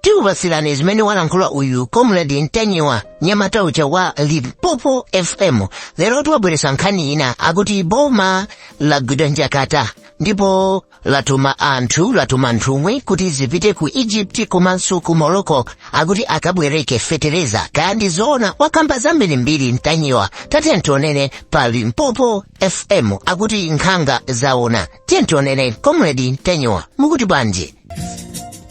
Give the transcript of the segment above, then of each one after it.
tikupatsirani zimene walankhula uyu comrade ntanyiwa nyamata uja wa limpopo fm lero watibweretsera nkhani ina akuti boma lagwidwa njakata ndipo latuma anthu latuma nthumwi kuti zipite ku egypt komanso ku morocco akuti akabwereke fetereza kaya ndi zoona wakamba zambirimbiri ntanyiwa tatiyeni timvere pa limpopo fm akuti nkhanga zaona tiyeni timvere comrade ntanyiwa mukuti bwanji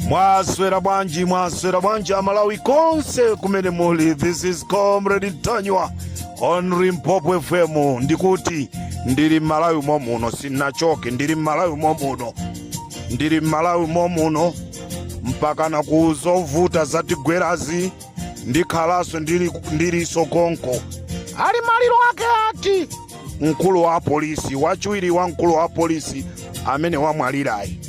mwaswera bwanji mwaswera bwanji amalawi konse kumene muli this is comrade ntanyiwa on limpopo fm ndikuti ndili mmalawi momuno sinachoke ndili mmalawi momuno ndili mmalawi momuno mpakana ku zovuta zatigwerazi ndikhalanso ndili ndilinso konko a maliro ake ati mkulu wa apolisi wachiwiri wa mkulu wa apolisi amene wamwalirayi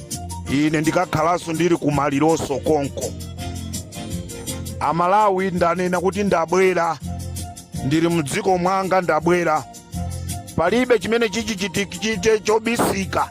ine ndikakhalanso ndili ku malironso konko amalawi ndanena kuti ndabwera ndili mdziko mwanga ndabwera palibe chimene chichichitike chobisika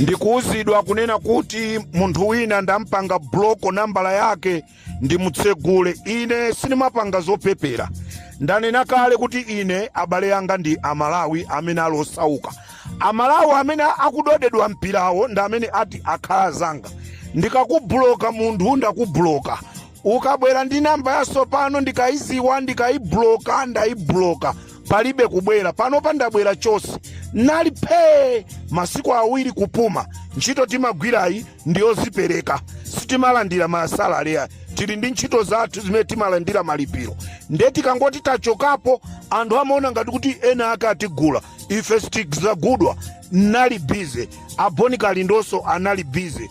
Ndikuuzidwa kunena kuti munthu wina ndampanga buloko nambala yake ndimutsegule. Ine sindimapanga zopepera. Ndanena kale kuti ine abale anga ndi Amalawi amene ali osauka. Amalawi amene akudodedwa mpirawo ndi amene ati akhala azanga. Ndikakubuloka munthu ndakubuloka. Ukabwera ndi nambala yatsopano ndikaiziwa ndikaibuloka ndaibuloka. palibe kubwera panopa ndabwera chonse nali phee masiku awiri kupuma ntchito timagwirayi ndiyozipereka sitimalandira masalale ayi tili ndi ntchito zathu zimene timalandira malipiro nde tikangoti tachokapo anthu amaona ngati kuti ena ake atigula ife sitizagudwa nali bize a bon kalindonso anali bize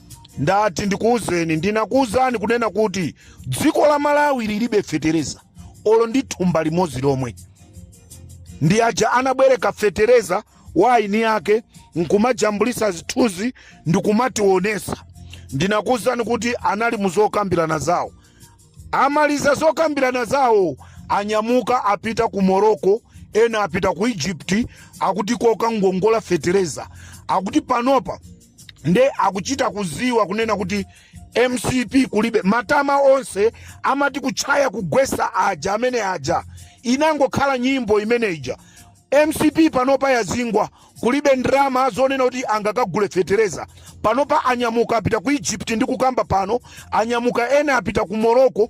Ndati ndikuuzeni, ndinakuuzani kunena kuti dziko la Malawi lilibe fetereza olo ndi thumba limodzi lomwe. Ndi aja anabwereka fetereza wa eni ake nkumajambulisa zithunzi ndikumationesa. Ndinakuuzani kuti anali muzokambirana zawo, amaliza zokambirana zawo anyamuka apita ku Morocco, ena apita ku Egypt, akuti kokangongola fetereza, akuti panopa nde akuchita kuziwa kunena kuti mcp kulibe matama onse amati kutchaya kugwesa aja amene aja inangokhala nyimbo imene ija mcp panopa yazingwa kulibe ndrama zonena kuti angakagule fetereza panopa anyamuka apita ku egypt ndikukamba pano anyamuka ena apita ku morocco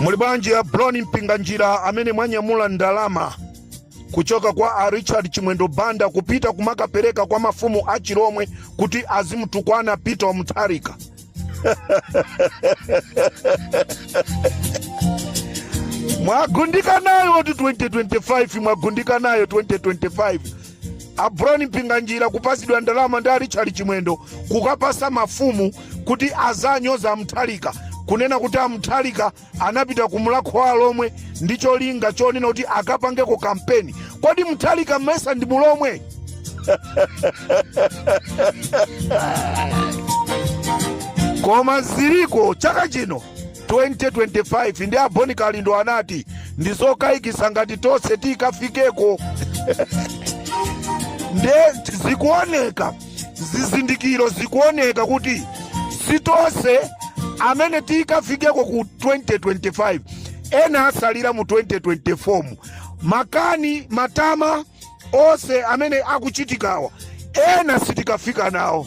muli bwanji a Brown Mpinganjira amene mwanyamula ndalama kuchoka kwa a richard chimwendo banda kupita kumakapereka kwa mafumu a chilomwe kuti azimutukwana peter wa mutharika mwagundika nayo 2025 mwagundika nayo 2025 a Brown Mpinganjira kupasidwa ndalama ndi a Richard Chimwendo kukapasa mafumu kuti azanyoza a Mutharika kunena kuti a Mutharika anapita ku Mulhako wa Alhomwe ndi cholinga chonena kuti akapangeko kampeni. Kodi Mutharika mesa ndi mulomwe? Koma ziliko chaka chino 2025 ndi a Bon Kalindo anati ndi zokayikitsa ngati tonse tikafikeko nde zikuoneka zizindikiro zikuoneka kuti si tonse amene tikafikeko ku 2025 ena asalira mu 2024 makani matama onse amene akuchitikawa ena sitikafika nawo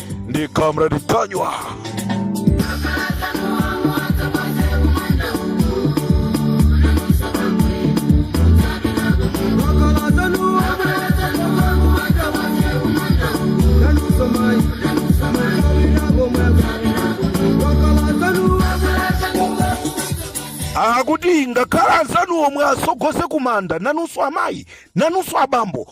ndi comrade Ntanyiwa akuti ngakhale anzanu omwe asogose kumanda nanunso amayi nanunso abambo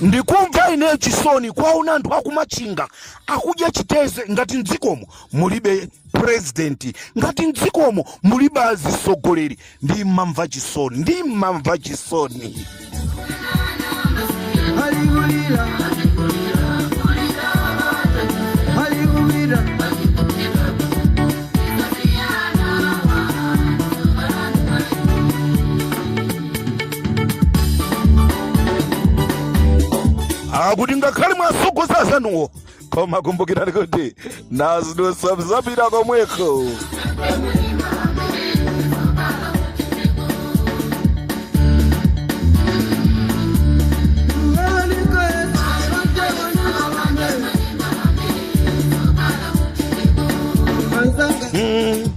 ndikumva ineyo chisoni kwaona anthu akumachinga akudya chiteze ngati mdzikomo mulibe purezidenti ngati mdzikomo mulibe azisogoleri ndi mmamva chisoni ndi mmamva chisoni Hallelujah. Hallelujah. akuti ngakhale mwasogoza azanuwo koma kumbukirani kuti nazidusa mzapita komweko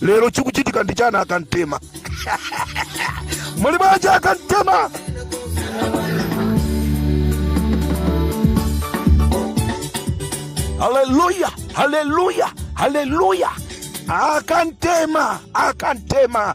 lero chikuchitika ndi chana akantema muli bwanji akantema haleluya haleluya haleluya akantema akantema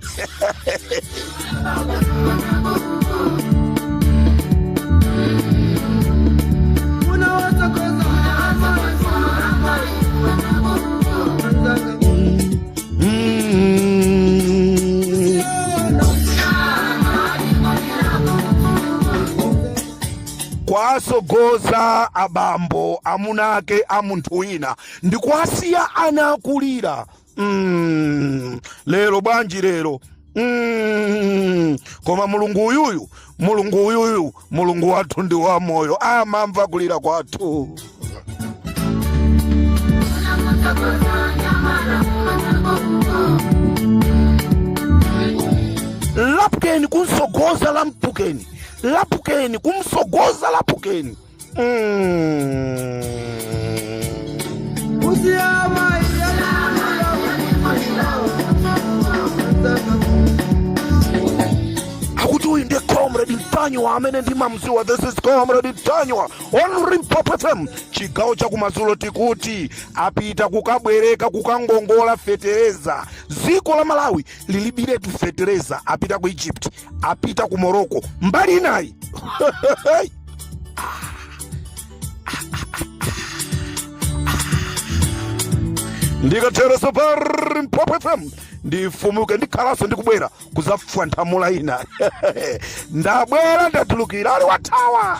kwasogoza abambo amunake a munthu wina ndi kuwasiya ana akulira mm, lero bwanji lero mm, koma mulungu uyuyu mulungu uyuyu mulungu wathu ndi wamoyo amamva kulira kwathu lapken kumsogoza lapken lapken kumsogoza lapken akuti uyu ndi comrade ntanyiwa amene ndimamziwa this is comrade ntanyiwa on limpopo fm chigawo chakumadzulo tikuti apita kukabwereka kukangongola fetereza dziko la malawi lilibiretu fetereza apita ku egypt apita ku morocco mbali inayi ndikatereso pa limpopo fm ndifumuke ndikhalanso ndikubwera kuzafwathamula ina ndabwera ndatulukira ali wathawa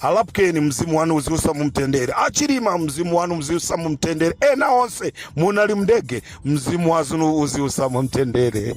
a lapken mzimu wanu uziusa mumtendere a chilima mzimu wanu uziusa mumtendere ena onse munali mndege mzimu wanu uziusa mumtendere